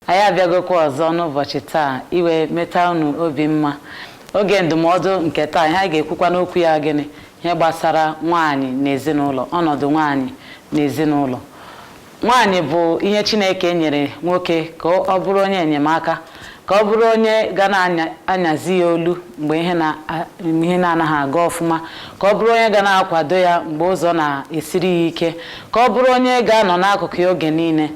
anyị abịagokwa ọzọ n'ụbọchị taa i wee meta unu obi mma oge ndụmọdụ nke taa ihe anyị ga-ekwukwanụ okwu ya gịnị ihe gbasara nwaanyị na ezinụlọ ọnọdụ nwaanyị na ezinụlọ Nwaanyị bụ ihe Chineke nyere nwoke ka ọ bụrụ onye enyemaka, ka ọ bụrụ onye ga na-anyazi ya olu mgbe ihe na-anaghị aga ọfụma, ka ọ bụrụ onye ga na-akwado ya mgbe ụzọ na-esiri ya ike, ka ọ bụrụ onye ga-anọ n'akụkụ ya oge niile.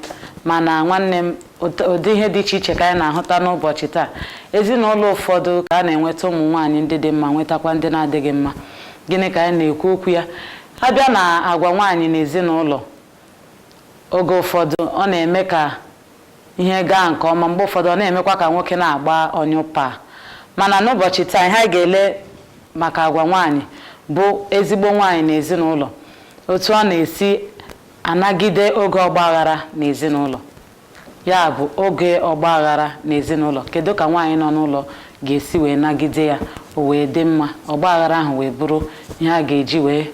Mana nwanne m, ụdị ihe dị iche iche ka anyị na-ahụta n'ụbọchị taa. Ezinụlọ ụfọdụ ka a na-enweta ụmụ nwaanyị ndị dị mma, nwetakwa ndị na-adịghị mma. Gịnị ka anyị na-ekwu okwu ya? A bịa na agwa nwaanyị na ezinụlọ, Oge ụfọdụ, ọ na-eme ka ihe gaa nke ọma, mgbe ụfọdụ, ọ na-emekwa ka nwoke na-agba ọnyụpaa. Mana n'ụbọchị taa, ihe anyị ga-ele maka agwa nwaanyị bụ ezigbo nwaanyị n'ezinụlọ, otu ọ na-esi anagide oge ọgba aghara n'ezinụlọ. Ya bụ, oge ọgba aghara n'ezinụlọ, kedu ka nwaanyị nọ n'ụlọ ga-esi wee nagide ya o wee dị mma, ọgba aghara ahụ wee bụrụ ihe a ga-eji wee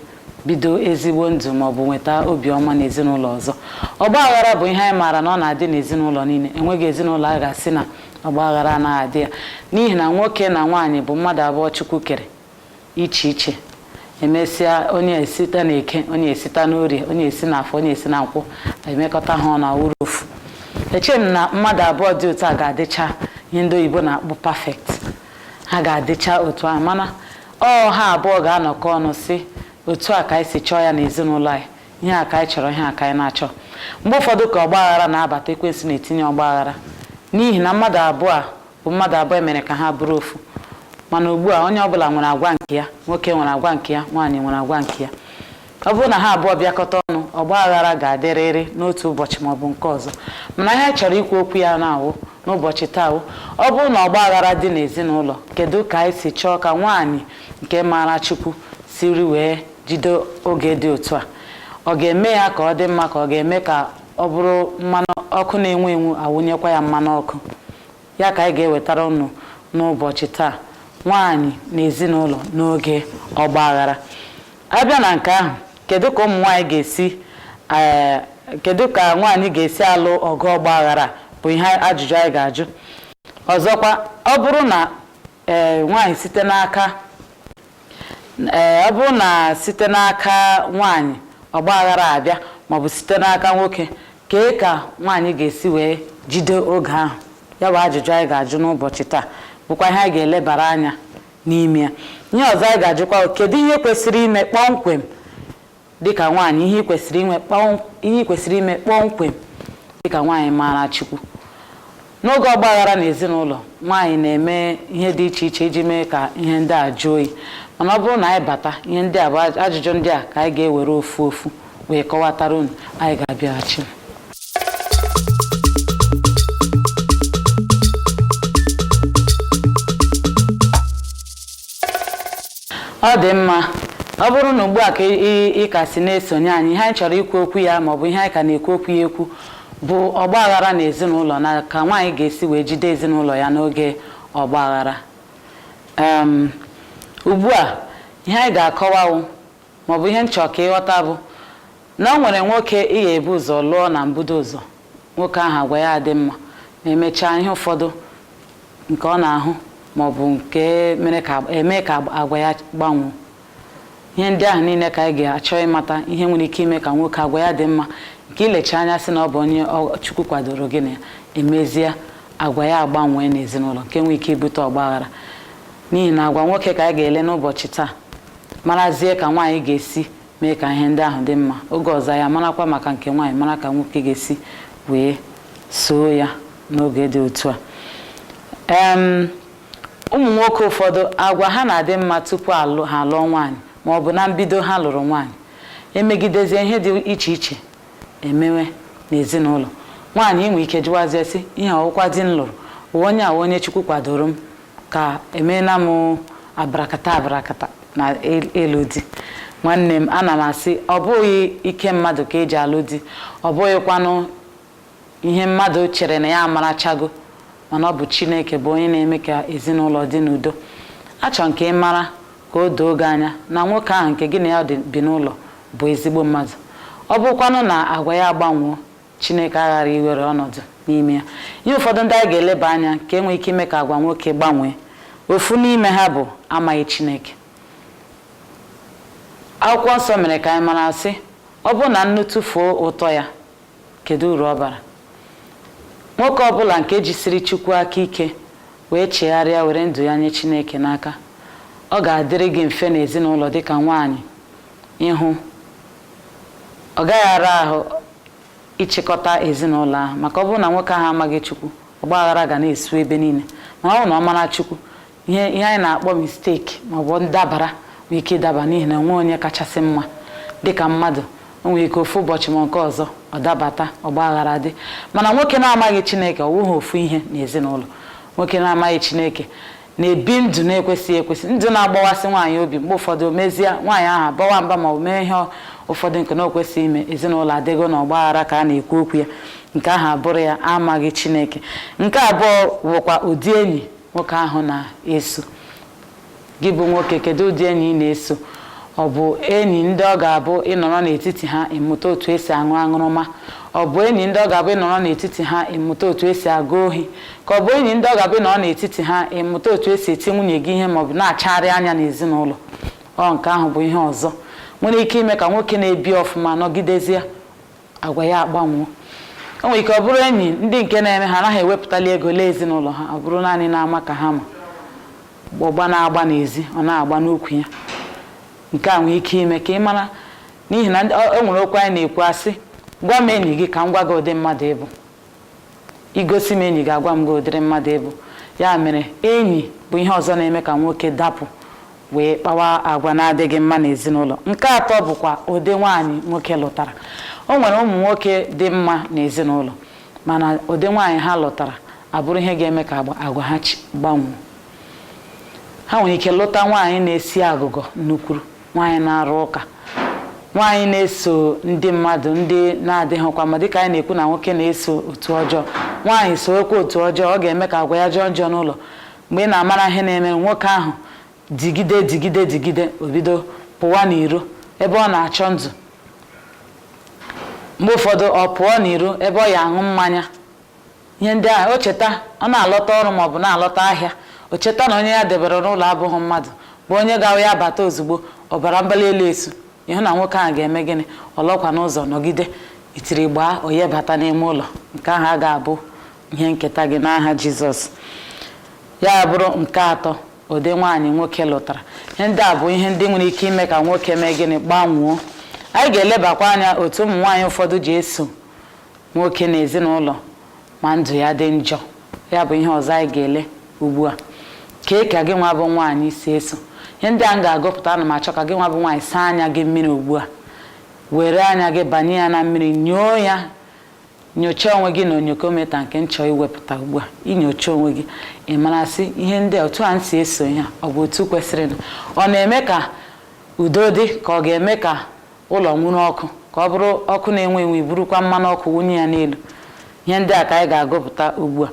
bido ezigbo ndụ ma ọ bụ nweta obiọma n'ezinụlọ ọzọ. Ọgba aghara bụ ihe anyị maara na ọ na-adị n'ezinụlọ niile. Enweghị ezinụlọ a ga-asị na ọgba aghara anaghị adị ya n'ihi na nwoke na nwaanyị bụ mmadụ abụọ Chukwu kere iche iche emesịa onye esita na eke onye esita na orie onye esi na afọ onye esi na nkwọ emekọta ha ọnụ awụrụ ofu eche m na mmadụ abụọ dị otu a ga-adịcha ihe ndị oyibo na-akpọ perfect ha ga-adịcha otu a mana ọ ha abụọ ga-anọkọ ọnụ sị otu a ka anyị si chọọ ya na ezinụlọ anyị ihe a ka anyị chọrọ ihe a ka anyị na-achọ mgbe ụfọdụ ka ọgba aghara na-abata ekwensu na-etinye ọgba aghara n'ihi na mmadụ abụọ a bụ mmadụ abụọ emere ka ha bụrụ ofu mana ugbu a onye ọbụla nwere agwa nke ya nwoke nwere agwa nke ya nwaanyị nwere agwa nke ya ọ bụrụ na ha abụọ bịakọta ọnụ ọgba aghara ga-adịrịrị n'otu ụbọchị ma ọ bụ nke ọzọ mana ihe a chọrọ ikwu okwu ya na-awụ n'ụbọchị taa wụ ọ bụrụ na ọgba aghara dị n'ezinụlọ kedu ka anyị si chọọ ka nwaanyị nke maara Chukwu siri wee jide oge dị otu a ọ ga-eme ya ka ọ dị mma ka ọ ga-eme ka ọ bụrụ mmanụ ọkụ na-enwu enwu awụnyekwa ya mmanụ ọkụ Ya ka anyị ga-ewetara unu n'ụbọchị taa, nwaanyị na ezinụlọ n'oge ọgba aghara. Abịa na nke ahụ, kedu ka ụmụ nwaanyị ga-esi ee kedu ka nwaanyị ga-esi alụ ọgụ ọgba aghara bụ ihe ajụjụ anyị ga-ajụ. Ọzọkwa, ọ bụrụ na ee nwaanyị site n'aka ee ọ bụrụ na site n'aka nwaanyị ọgba aghara abịa maọbụ site n'aka nwoke kee ka nwaanyị ga-esi wee jide oge ahụ ya bụ ajụjụ anyị ga-ajụ n'ụbọchị taa bụkwa ihe anyị ga-elebara anya n'ime ya ihe ọzọ anyị ga-ajụkwa kedu ihe kwesịrị ime kpọmkwem dịka nwaanyị ihe i kwesịrị inwe kpọm- ihe i kwesịrị ime kpọmkwem dịka nwaanyị maara Chukwu n'oge ọgbaghara na ezinụlọ nwaanyị na-eme ihe dị iche iche iji mee ka ihe ndị a jụọ oyi mana ọ bụrụ na anyị bata ihe ndị a bụ aj- ajụjụ ndị a ka anyị ga-ewere ofu ofu wee kọwatara unu anyị ga-abịaghachi Ọ dị mma. Ọ bụrụ na ugbu a ka ị ka si na-esonye anyị, ihe anyị chọrọ ikwu okwu ya ma ọ bụ ihe anyị ka na-ekwu okwu ya ekwu bụ ọgba aghara na ezinụlọ na ka nwaanyị ga-esi wee jide ezinụlọ ya n'oge ọgba aghara. Um, ugbu a ihe anyị ga-akọwa wụ ma ọ bụ ihe m chọ ka ị ghọta bụ na o nwere nwoke ị ga-ebu ụzọ lụọ na mbudo ụzọ nwoke ahụ agwa ya adị mma ma emechaa ihe ụfọdụ nke ọ na-ahụ ma ọ bụ nke mere eme ka agwa ya gbanwee ihe ndị ahụ niile ka anyị ga-achọ ịmata ihe nwere ike ime ka nwoke agwa ya dị mma nke i lecha anya sị na ọ bụ onye Chukwu kwadoro gị na ya emezie agwa ya agbanwee n'ezinụlọ nke nwee ike ibute ọgbaghara n'ihi na agwa nwoke ka anyị ga-ele n'ụbọchị taa marazie ka nwaanyị ga-esi mee ka ihe ndị ahụ dị mma oge ọzọ ya marakwa maka nke nwaanyị mara ka nwoke ga-esi wee soo ya n'oge dị otu a em ụmụ nwoke ụfọdụ agwa ha na-adị mma tupu ha alụọ nwaanyị ma ọ bụ na mbido ha lụrụ nwaanyị emegidezie ihe dị iche iche emewe n'ezinụlọ nwaanyị i nwee ike jụwazie sị ihe ọ wụkwa di m lụrụ wụ onye a wụ onye chukwu kwadoro m ka emeela m abarakata abarakata na ịlụ di nwanne m ana m asị ọ bụghị ike mmadụ ka eji alụ di ọ bụghịkwanụ ihe mmadụ chere na ya amarachago mana ọ bụ chineke bụ onye na-eme ka ezinụlọ dị n'udo achọ m ka ị mara ka o doo gị anya na nwoke ahụ nke gị na ya bi n'ụlọ bụ ezigbo mmadụ ọ bụrụkwanụ na agwa ya agbanwoo Chineke aghara iwere ọnọdụ n'ime ya. Ihe ụfọdụ ndị anyị ga-eleba anya ka enwee ike ime ka agwa nwoke gbanwee ofu n'ime ha bụ amaghị Chineke akwụkwọ nsọ mere ka anyị mara sị ọ bụrụ na nnu tụfuo ụtọ ya kedu uru ọ bara nwoke ọbụla nke jisiri Chukwu aka ike wee chegharịa were ndụ ya nye Chineke n'aka ọ ga-adịrị gị mfe n'ezinụlọ dịka nwaanyị ịhụ ọ gaghị ara ahụ ịchịkọta ezinụlọ ahụ maka ọ bụrụ na nwoke ahụ amaghị Chukwu ọgba aghara ga na-esu ebe niile mana ọ bụrụ na ọ mara Chukwu ihe ihe anyị na-akpọ mistake maọbụ ndabara nwee ike ịdaba n'ihi na o nwe onye kachasị mma dịka mmadụ o nwere ike ofu ụbọchị ma nke ọzọ ọ dabata ọgba aghara dị mana nwoke na-amaghị Chineke ọ wụghị ofu ihe n'ezinụlọ nwoke na-amaghị Chineke na-ebi ndụ na-ekwesịghị ekwesị ndụ na-agbawasị nwaanyị obi mgbe ụfọdụ o mezie nwaanyị ahụ abawa mba ma ọ mee ihe ụfọdụ nke na o kwesịghị ime ezinụlọ adịgo na ọgbaghara ka a na-ekwu okwu ya nke ahụ abụrụ ya amaghị chineke nke abụọ bụkwa ụdị enyi nwoke ahụ na-eso gị bụ nwoke kedu ụdị enyi ị na-eso ọ bụ enyi ndị ọ ga-abụ ị nọrọ n'etiti ha ị mụta otu esi aṅụ aṅụrụma ọ bụ enyi ndị ọ ga-abụ ị nọrọ n'etiti ha ị mụta otu esi aga ohi Ka ọ bụ enyi ndị ọ ga-abụ ị nọrọ n'etiti ha ị mụta otu esi eti nwunye gị ihe maọbụ na-achagharị anya n'ezinụlọ. Nke ahụ bụ ihe ọzọ nwere ike ime ka nwoke na-ebi ọfụma nọgidezie agwa ya agbanwoo. O nwere ike ọ bụrụ enyi ndị nke na-eme ha anaghị ewepụtali ego lee ezinụlọ ha, ọ bụrụ naanị n'ama ka ha ma. Ọgba na-agba n'ezi, ọ na-agba n'ukwu ya. Nke a nwere ike ime ka ị mara n'ihi na ndị- ọ- o nwere okwu anyị na-ekwu a sị gwa m enyi gị ka m gwa gị ụdị mmadụ ị bụ. I gosi m enyi gị, agwa m gị ụdịrị mmadụ ị bụ. Ya mere, enyi bụ ihe ọzọ na-eme ka nwoke dapụ wee kpawa agwa na-adịghị mma n'ezinụlọ. Nke atọ bụkwa ụdị nwaanyị nwoke lụtara. O nwere ụmụ nwoke dị mma n'ezinụlọ, mana ụdị nwaanyị ha lụtara abụrụ ihe ga-eme ka agwa ha gbanwee. Ha nwere ike lụta nwaanyị na-esi agụgọ nnukwuru. nwaanyị na-arụ ụka nwaanyị na-eso ndị mmadụ ndị na-adịghịkwa mma dịka anyị na-ekwu na nwoke na-eso otu ọjọọ nwaanyị sowekwa otu ọjọọ ọ ga-eme ka agwa ya jọọ njọ n'ụlọ mgbe ị na-amara ihe na-eme nwoke ahụ digide digide digide o bido pụwa n'iro ebe ọ na-achọ ndụ mgbe ụfọdụ ọ pụọ n'iro ebe ọ ya-aṅụ mmanya Ihe ndị ahụ, o cheta, ọ na-alọta ọrụ ma ọ bụ na-alọta ahịa, o cheta na onye ya debere n'ụlọ abụghị mmadụ, bụ onye ga-awụ ya bata ozugbo, ọbara mgbali elu esu, ị hụ na nwoke ahụ ga-eme gịnị? Ọ nọkwa n'ụzọ nọgide, itiri gbaa, o wee bata n'ime ụlọ. Nke ahụ agaghị abụ ihe nketa gị n'aha Jizọs. Ya abụrụ nke atọ, ụdị nwaanyị nwoke lụtara. Ihe ndị a bụ ihe ndị nwere ike ime ka nwoke mee gịnị? Gbanwoo. Anyị ga-elebakwa anya otu ụmụ nwaanyị ụfọdụ ji eso nwoke n'ezinụlọ ma ndụ ya dị njọ ya bụ ihe ọzọ anyị ga-ele ugbu a kee ka gị nwa bụ nwaanyị si eso ihe ndị a m ga-agụpụta ana m achọ ka gị nwa bụ nwaanyị saa anya gị mmiri ugbu a were anya gị banye ya na mmiri nyoo ya nyochaa onwe gị na onyokometa nke m chọ iwepụta ugbu a i nyochaa onwe gị ị mara sị ihe ndị otu a m si eso ya ọ bụ otu kwesịrịnụ ọ na-eme ka udo dị ka ọ ga-eme ka ụlọ nwuru ọkụ ka ọ bụrụ ọkụ na-enwu enwu i burukwa mmanụ ọkụ wunye ya n'elu ihe ndị a ka anyị ga-agụpụta ugbu a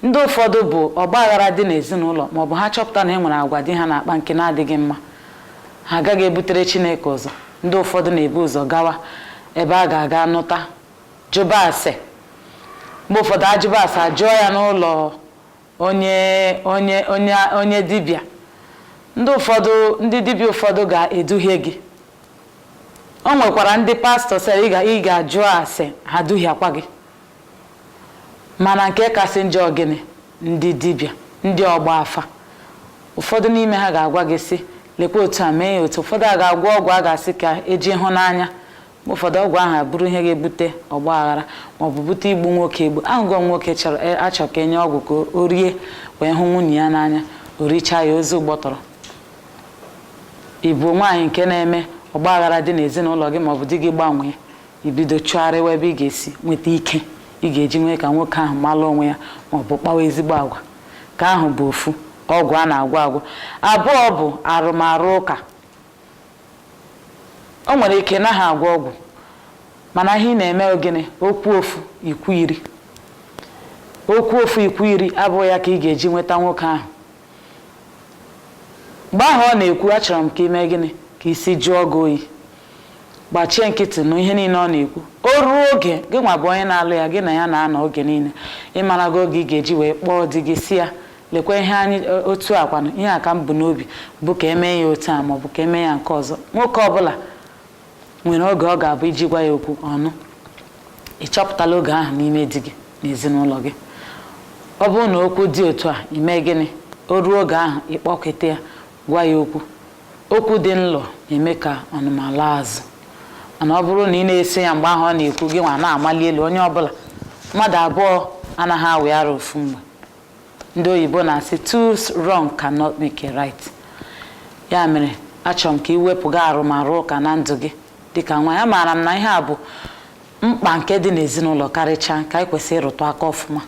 ndị ụfọdụ bụ ọgba aghara dị n'ezinụlọ ma ọ bụ ha chọpụta na e nwere agwa di ha na-akpa nke na-adịghị mma ha agaghị ebutere Chineke ụzọ ndị ụfọdụ na-ebu ụzọ gawa ebe a ga-aga nụta jụba ase mgbe ụfọdụ ajụba ase ajụọ ya n'ụlọ onye onye onye onye dibịa ndị ụfọdụ ndị dibịa ụfọdụ ga-eduhie gị o nwekwara ndị pastors ị ga ị ga-ajụ ase ha duhiakwa gị mana nke kasị njọ ọ gịnị ndị dibịa ndị ọgba afa ụfọdụ n'ime ha ga-agwa gị sị lekwa otu a mee ya otu ụfọdụ a ga-agwọ ọgwụ a ga-asị ka e ji ịhụnanya mgbe ụfọdụ ọgwụ ahụ abụrụ ihe ga-ebute ọgba aghara maọbụ bute igbu nwoke egbu a hụgo nwoke a chọ ka e nye ọgwụ ka o rie wee hụ nwunye ya n'anya o richaa ya ozu gbọtọrọ ị bụ nwaanyị nke na-eme ọgba aghara dị n'ezinụlọ gị maọbụ di gị gbanwee i bido chụgharịwa ebe ị ga-esi nweta ike ị ga-eji mee ka nwoke ahụ malụ onwe ya maọbụ kpawa ezigbo agwa nke ahụ bụ ofu ọgwụ a na-agwọ agwọ abụọ bụ arụmarụ ụka O nwere ike ị naghị agwọ ọgwụ mana ihe ị na-eme ọ gịnị o kwuo ofu i kwuo iri o kwuo ofu i kwuo iri abụghị ya ka ị ga-eji nweta nwoke ahụ mgbe ahụ ọ na-ekwu achọrọ m ka i mee gịnị ka isi jụọ gị oyi gbachie nkịtị nụ ihe niile ọ na-ekwu o ruo oge gị nwa bụ onye na-alụ ya gị na ya na-anọ oge niile ị marago oge ị ga-eji wee kpọọ di gị sị ya lekwa ihe anyị e, otu a kwanụ ihe a ka m bu n'obi bụ ka e mee ya otu a maọbụ ka e mee ya nke ọzọ nwoke ọbụla nwere oge ọ ga-abụ i ji gwa ya okwu ọ nụ ị chọpụtala oge ahụ n'ime di gị n'ezinụlọ gị ọ bụrụ na okwu dị otu a i mee gịnị o ruo oge ahụ ị kpọkete ya gwa ya okwu okwu dị nlo na-eme ka ọnụma laa azụ mana ọ bụrụ na ị na-ese ya mgbe ahụ ọ na-ekwu gị nwa na-amali elu onye ọbụla mmadụ abụọ anaghị awị ara ofu mgbe ndị oyibo na-asị two wrong cannot make a right ya mere achọrọ m ka ị wepụga arụmarụ ụka na ndụ gị dịka nwaanyị amaara m na ihe a bụ mkpa nke dị n'ezinụlọ karịchaa ka anyị kwesịrị ịrụtụ aka ọfụma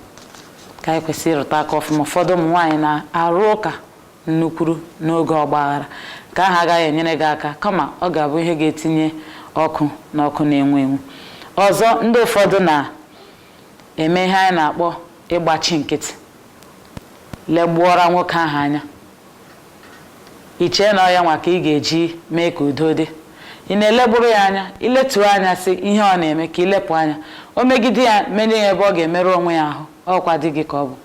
ka anyị kwesịrị ịrụtụ aka ọfụma ụfọdụ ụmụ nwaanyị na-arụ ụka nnukwuru n'oge ọgbaghara nke ahụ agaghị enyere gị aka kama ọ ga-abụ ihe ga-etinye ọkụ n'ọkụ na-enwu enwu ọzọ ndị ụfọdụ na eme ihe anyị na-akpọ ịgbachi nkịtị legbuọra nwoke ahụ anya i chee na ọ ya nwa ka ị ga-eji mee ka udo dị ị na-elegburu ya anya i letuo anya sị ihe ọ na-eme ka i lepụ anya o megide ya menye ya ebe ọ ga-emerụ onwe ya ahụ ọ kwa di gị ka ọ bụ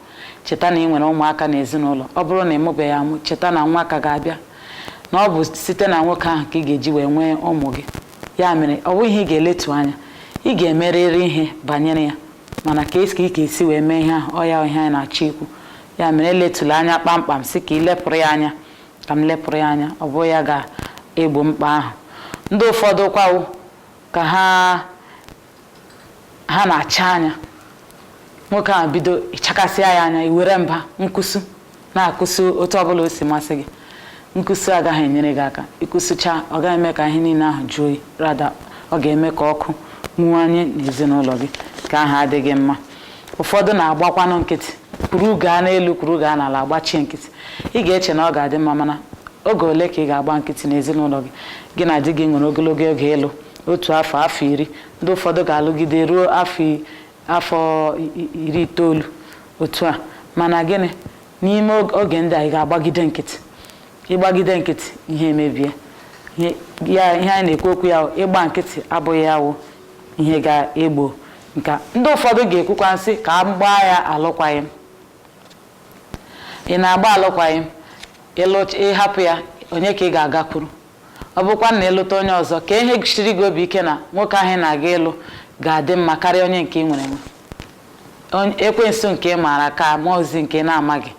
cheta na ị nwere ụmụaka n'ezinụlọ ọ bụrụ na ị mụbeghị amụ cheta na nwa ka ga-abịa na ọ bụ site na nwoke ahụ ka ị ga-eji wee nwee ụmụ gị ya mere ọ bụghị ihe ị ga-eletu anya ị ga-emerịrị ihe banyere ya mana ka esi ka ị ga-esi wee mee ihe ahụ ọ ya ihe anyị na-achọ ikwu ya mere eletụla anya kpamkpam sị ka ị lepụrụ ya anya ka m lepụrụ ya anya ọ bụghị ya ga-egbo mkpa ahụ ndị ụfọdụ kwa wụ ka ha ha na-acha anya nwoke ahụ bido ị chakasịa ya anya i were mba nkụsu na-akụsu otu ọbụla o si masị gị nkụsu agaghị enyere gị aka ị kụsucha ọ gaghị eme ka ihe niile ahụ jụọ oyi rather ọ ga-eme ka ọkụ nwuwanye n'ezinụlọ gị nke ahụ adịghị mma ụfọdụ na-agbakwanụ nkịtị kwuru gaa n'elu kwuru gaa n'ala agbachie nkịtị ị ga-eche na ọ ga-adị mma mana oge ole ka ị ga-agba nkịtị n'ezinụlọ gị gị na di gị nwere ogologo oge ịlụ otu afọ afọ iri ndị ụfọdụ ga-alụgide ruo afọ i- afọ i- i- iri itoolu otu a mana gịnị n'ime og- oge ndị a ị ga-agbagide nkịtị ị gbagide nkịtị ihe emebie Ihe- ya ihe anyị na-ekwu okwu ya wụ, ịgba nkịtị abụghị ya wụ ihe ga-egbo nke a ndị ụfọdụ ga-ekwukwanụ sị ka a gbaa ya alụkwaghịm ị na-agba alụkwaghịm ịlụ- ị hapụ ya onye ka ị ga-agakwuru Ọ bụrụkwanụ na ị lụta onye ọzọ, kee ihe kasiri gị obi ike na nwoke ahụ ị na-aga ịlụ ga-adị mma karịa onye nke ị nwere enwe. Onye- Ekwensu nke ị maara ka mmụọ ozi nke ị na-amaghị.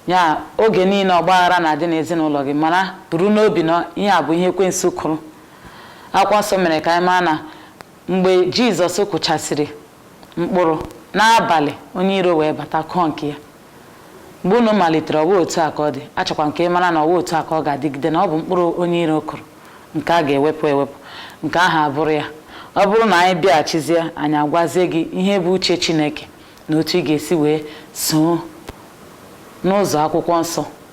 Ya oge niile ọgba aghara na-adị n'ezinụlọ gị mara buru n'obi na ihe a bụ ihe ekwensu kụrụ. Akwụkwọ nsọ mere ka anyị mara na mgbe Jizọs kụchasịrị mkpụrụ n'abalị onye iro wee bata kụọ nke ya. mgbe unu malitere ọ wụghị otu a ka ọ dị achọkwa m ka ị mara na ọ wụghị otu a ka ọ ga-adịgide na ọ bụ mkpụrụ onye iro kụrụ nke a ga-ewepụ ewepụ nke ahụ abụrụ ya ọ bụrụ na anyị bịaghachizie anyị agwazie gị ihe bụ uche Chineke na otu ị ga-esi wee soo n'ụzọ akwụkwọ nsọ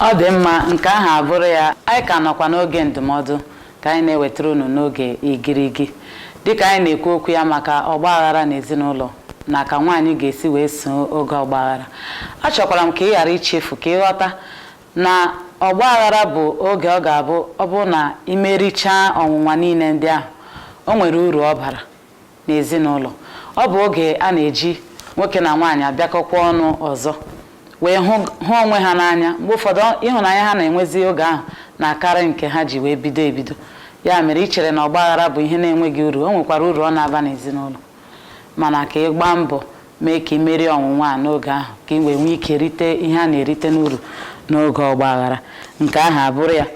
Ọ dị mma, nke ahụ abụrụ ya. Anyị ka nọkwa n'oge ndụmọdụ ka anyị na-ewetara unu n'oge igirigi. Dịka anyị na-ekwu okwu ya maka ọgba aghara n'ezinụlọ na ka nwaanyị ga-esi wee soo oge ọgba aghara. Achọkwara m ka ị ghara ichefu ka ị ghọta na ọgba aghara bụ oge ọ ga-abụ ọ bụrụ na i merichaa ọnwụnwa niile ndị ahụ, o nwere uru ọ bara. n'ezinụlọ. Ọ bụ oge a na-eji nwoke na nwaanyị abịakọkwa ọnụ ọzọ wee hụ hụ onwe ha n'anya. Mgbe ụfọdụ, ọ- ịhụnanya ha na-enwezi oge ahụ na-akarị nke ha ji wee bido ebido. Ya mere, i chere na ọgbaghara bụ ihe na-enweghị uru, o nwekwara uru ọ na-aba n'ezinụlọ. Mana ka ị gbaa mbọ mee ka ị merie ọnwụnwa a n'oge ahụ ka ị wee nwee ike rite ihe a na-erite n'uru n'oge ọgbaghara. Nke ahụ abụrụ ya.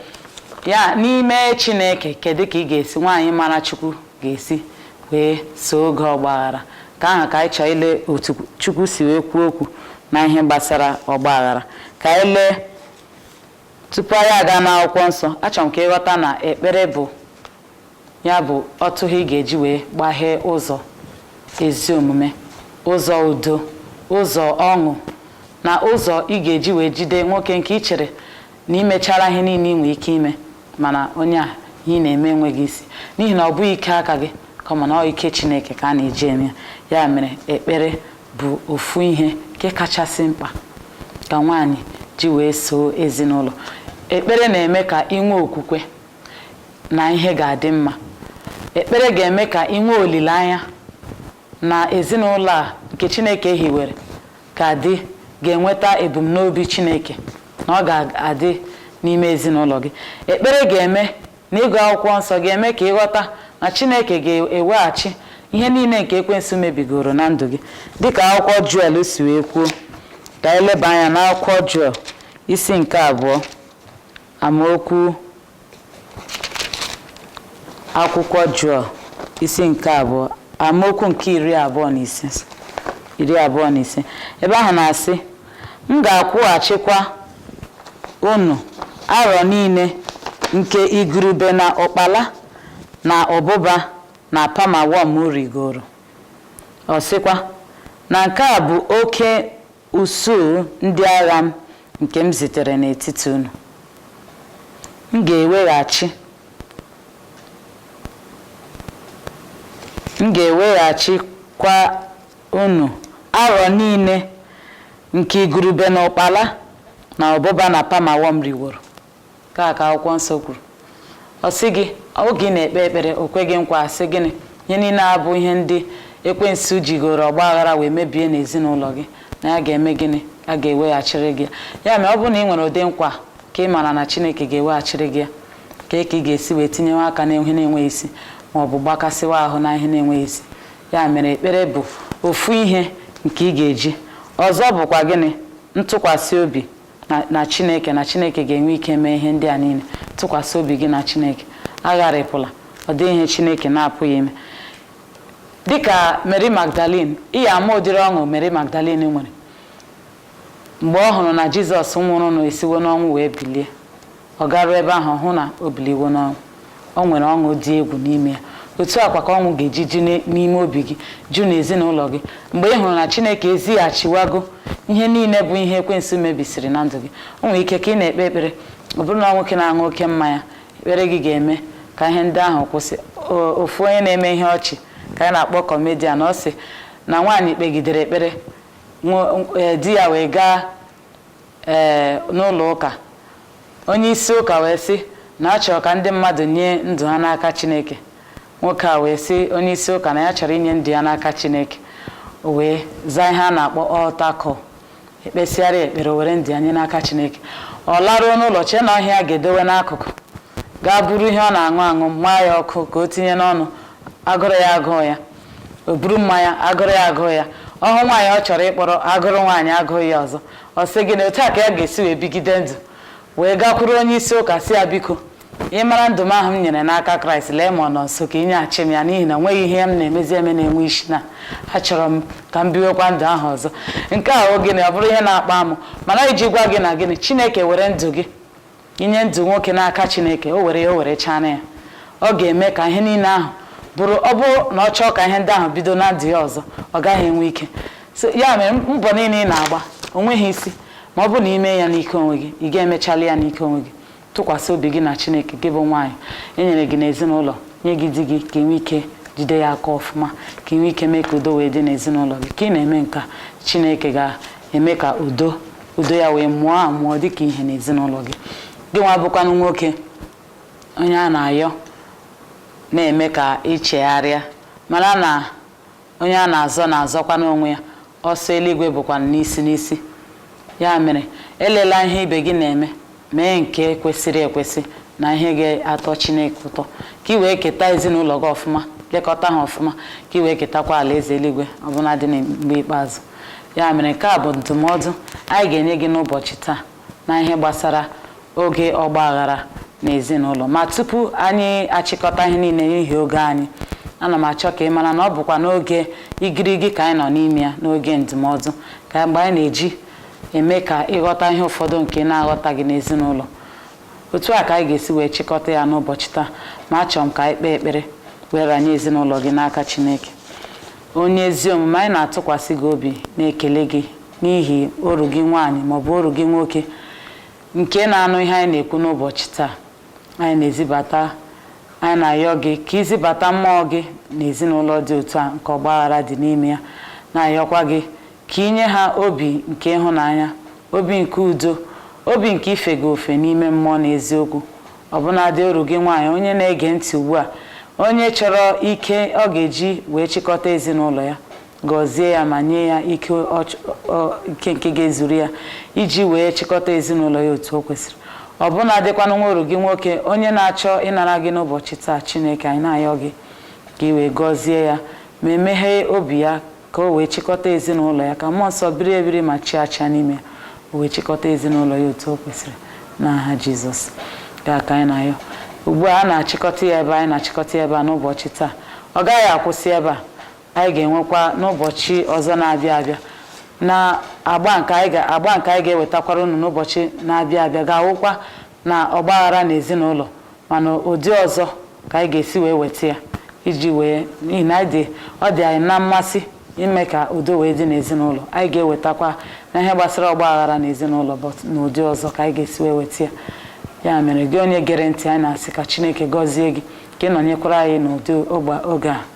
Ya n'ime Chineke, kedu ka ị ga-esi nwaanyị mara Chukwu ga-esi wee soo oge ọgbaghara nke ahụ ka anyị chọọ ile otu Chukwu si wee kwuo okwu na ihe gbasara ọgbaghara ka anyị lee tupu anyị aga n'akwụkwọ nsọ achọrọ m ka ị ghọta na ekpere bụ ya bụ otughe ị ga-eji wee gbaghee ụzọ ezi omume ụzọ udo ụzọ ọṅụ na ụzọ ị ga-eji wee jide nwoke nke ị chere na i mechara ihe niile ị nwee ike ime mana onye a ihe ị na-eme enweghị isi n'ihi na ọ bụghị ike aka gị kama na ọ ike chineke ka a na-eji eme ya ya mere ekpere bụ ofu ihe nke kachasị mkpa ka nwaanyị ji wee soo ezinụlọ ekpere na-eme ka ị nwee okwukwe na ihe ga-adị mma ekpere ga-eme ka ị nwee olileanya na ezinụlọ a nke Chineke hiwere ga-adị ga-enweta ebumnobi Chineke na ọ ga-adị n'ime ezinụlọ gị. Ekpere ga-eme na ịgụ akwụkwọ nsọ ga-eme ka ị ghọta na Chineke ga-eweghachi ihe niile nke ekwensu mebigoro na ndụ gị dịka akwụkwọ Juel si wee kwuo ka anyị leba anya n'akwụkwọ Juel isi nke abụọ amaokwu akwụkwọ Juel isi nke abụọ amaokwu nke iri abụọ na ise iri abụọ na ise ebe ahụ na-asị m ga-akwụghachikwa unu arọ niile nke igurube na ụkpala na ụbụba na palmerworm rigoro ọ sịkwa na nke a bụ oke usuu ndị agha m nke m zitere n'etiti unu. M ga-eweghachi m ga-eweghachikwa unu arọ niile nke igurube na ụkpala na ụbụba na palmerworm riworo. Nke a ka akwụkwọ nsọ kwuru. Ọ sị gị, oge ị na-ekpe ekpere, o kwe gị nkwa sị gịnị? Ihe niile a bụ ihe ndị ekwensu jigoro ọgba aghara wee mebie n'ezinụlọ gị na ya ga-eme gịnị? A ga-eweghachiri gị ya. Ya mere ọ bụrụ na ị nwere ụdị nkwa nke ị maara na Chineke ga-eweghachiri gị ya, kee ka ị ga-esi wee tinyewe aka n'ihe na-enweghị isi ma ọ bụ gbakasịwa ahụ na ihe na-enweghị isi. Ya mere ekpere bụ ofu ihe nke ị ga-eji. Ọzọ bụkwa gịnị? Ntụkwasị obi na chineke na chineke ga-enwe ike mee ihe ndị a niile tụkwasị obi gị na chineke agharịpụla ọ dịghị ihe chineke na-apụghị ime dịka Mary Magdalene ị ya-ama ụdịrị ọṅụ Mary Magdalene nwere mgbe ọ hụrụ na Jizọs nwụrụnụ esiwo n'ọnwụ wee bilie ọ garuo ebe ahụ hụ na o biliwo n'ọnwụ o nwere ọṅụ dị egwu n'ime ya otu a kwa ka ọṅụ ga-eji ju n'ime obi gị ju n'ezinụlọ gị mgbe ị hụrụ na chineke ezighachiwago ihe niile bụ ihe ekwensu mebisiri na ndụ gị o nwere ike ka ị na-ekpe ekpere ọ bụrụ na nwoke na-aṅụ oke mmanya ekpere gị ga-eme ka ihe ndị ahụ kwụsị ofu onye na-eme ihe ọchị ka anyị na-akpọ comedian ọ sị na nwaanyị kpegidere ekpere e, di ya wee gaa ee n'ụlọ ụka, onye isi ụka wee sị na a chọrọ ka ndị mmadụ nye ndụ ha n'aka Chineke. Nwoke a wee sị onye isi ụka na ya chọrọ inye ndụ ya n'aka Chineke. O wee zaa ihe a na-akpọ altar call, e kpesịara ya ekpere, o were ndụ ya nye n'aka Chineke. Ọ laruo n'ụlọ chee na ọ ihe ya ga-edowe n'akụkụ, gaa buru ihe ọ na-aṅụ aṅụ, maa ya ọkụ ka o tinye n'ọnụ, agụrụ ya agụghị ya. o buru mmanya agụrụ ya agụghị ya ọ hụ nwaanyị ọ chọrọ ịkpọrọ agụrụ nwaanyị agụghị ya ọzọ ọ sị gịnị otu a ka ya ga-esi wee bigide ndụ wee gakwuru onye isi ụka sị ya biko ị mara ndụ m ahụ m nyere n'aka kraịst lee ma ọ nọ nso ka i nyeghachi m ya n'ihi na o nweghị ihe m na-emezi eme na-enwe isi na achọrọ m ka m biwekwa ndụ ahụ ọzọ nke a ọ gịnị ọ bụrụ ihe na-akpa amụ mana iji gwa gị na gịnị chineke were ndụ gị i nye ndụ nwoke n'aka chineke o were ya o were chana ya ọ ga-eme ka ihe niile ahụ bụrụ ọ bụrụ na ọ chọọ ka ihe ndị ahụ bido na ndụ ya ọzọ ọ gaghị enwe ike So, ya mere mbọ niile ị na-agba o nweghị isi ma ọ bụ na i me ya n'ike onwe gị ị ga-emechali ya n'ike onwe gị tụkwasị obi gị na chineke gị bụ nwaanyị e nyere gị n'ezinụlọ nye gị di gị ka ị nwee ike jide ya aka ọfụma ka ị nwee ike mee ka udo wee dị n'ezinụlọ gị ka ị na-eme nke a chineke ga eme ka udo udo ya wee mụọ amụọ dịka ihe n'ezinụlọ gị gị nwa bụkwanụ nwoke onye a na-ayọ na-eme ka i chegharịa mara na onye a na-azọ na-azọkwanụ onwe ya ọsọ eluigwe bụkwa n'isi n'isi ya mere elela ihe ibe gị na-eme mee nke kwesịrị ekwesị na ihe ga-atọ Chineke ụtọ ka ị wee keta ezinụlọ gị ọfụma lekọta ha ọfụma ka ị wee ketakwa alaeze eluigwe ọ bụladị na mgbe ikpeazụ ya mere nke a bụ ndụmọdụ anyị ga-enye gị n'ụbọchị taa n'ihe gbasara oge ọgba aghara n'ezinụlọ ma tupu anyị achịkọta ihe niile n'ihi oge anyị ana m achọ ka ị mara na ọ bụkwa n'oge igirigi ka anyị nọ n'ime ya n'oge ndụmọdụ ka mgbe anyị na-eji eme ka ị ghọta ihe ụfọdụ nke ị na-aghọtaghị n'ezinụlọ otu a ka anyị ga-esi wee chịkọta ya n'ụbọchị taa ma achọrọ m ka anyị kpee ekpere wee ranye ezinụlọ gị n'aka Chineke onye ezi omume anyị na-atụkwasị gị obi na-ekele gị n'ihi oru gị nwaanyị maọbụ oru gị nwoke nke na-anụ ihe anyị na-ekwu n'ụbọchị taa anyị na-ezibata anyị na-ayọ gị ka i zibata mmụọ gị n'ezinụlọ dị otu a nke ọgbaghara dị n'ime ya na-ayọkwa gị Ka i nye ha obi nke ịhụnanya, obi nke udo, obi nke ife gị ofe n'ime mmụọ na eziokwu. Ọbụnadị oru gị nwaanyị onye na-ege ntị ugbu a, onye chọrọ ike ọ ga-eji wee chịkọta ezinụlọ ya, gọzie ya ma nye ya ike nke ga-ezuru ya iji wee chịkọta ezinụlọ ya otu o kwesịrị. Ọbụnadịkwanụ nwa oru gị nwoke onye na-achọ ịnara gị n'ụbọchị taa, Chineke, anyị na-ayọ gị ka i wee gọzie ya ma emeghee obi ya ka o wee chịkọta ezinụlọ ya ka mmụọ nsọ biri ebiri ma chịa achịa n'ime ya o wee chịkọta ezinụlọ ya otu o kwesịrị n'aha jizọs ya ka anyị na-ayọ ugbu a a na-achịkọta ya ebe anyị na-achịkọta ya ebe a n'ụbọchị taa ọ gaghị akwụsị ebe a anyị ga-enwekwa n'ụbọchị ọzọ na-abịa abịa na agba nke anyị ga-ewetakwara unu n'ụbọchị na-abịa abịa ga-awụkwa na ọgbaghara na ezinụlọ mana ụdị ọzọ ka anyị ga-esi wee weta ya iji wee n'ihi na anyị dị ọ dị anyị na mmasị ime ka udo wee dị n'ezinụlọ anyị ga-ewetakwa na ihe gbasara ọgba aghara n'ezinụlọ but n'ụdị ọzọ ka anyị ga-esi wee weta ya ya mere gị onye gere ntị anyị na-asị ka Chineke gọzie gị ka ị nọnyekwara anyị n'ụdị oge a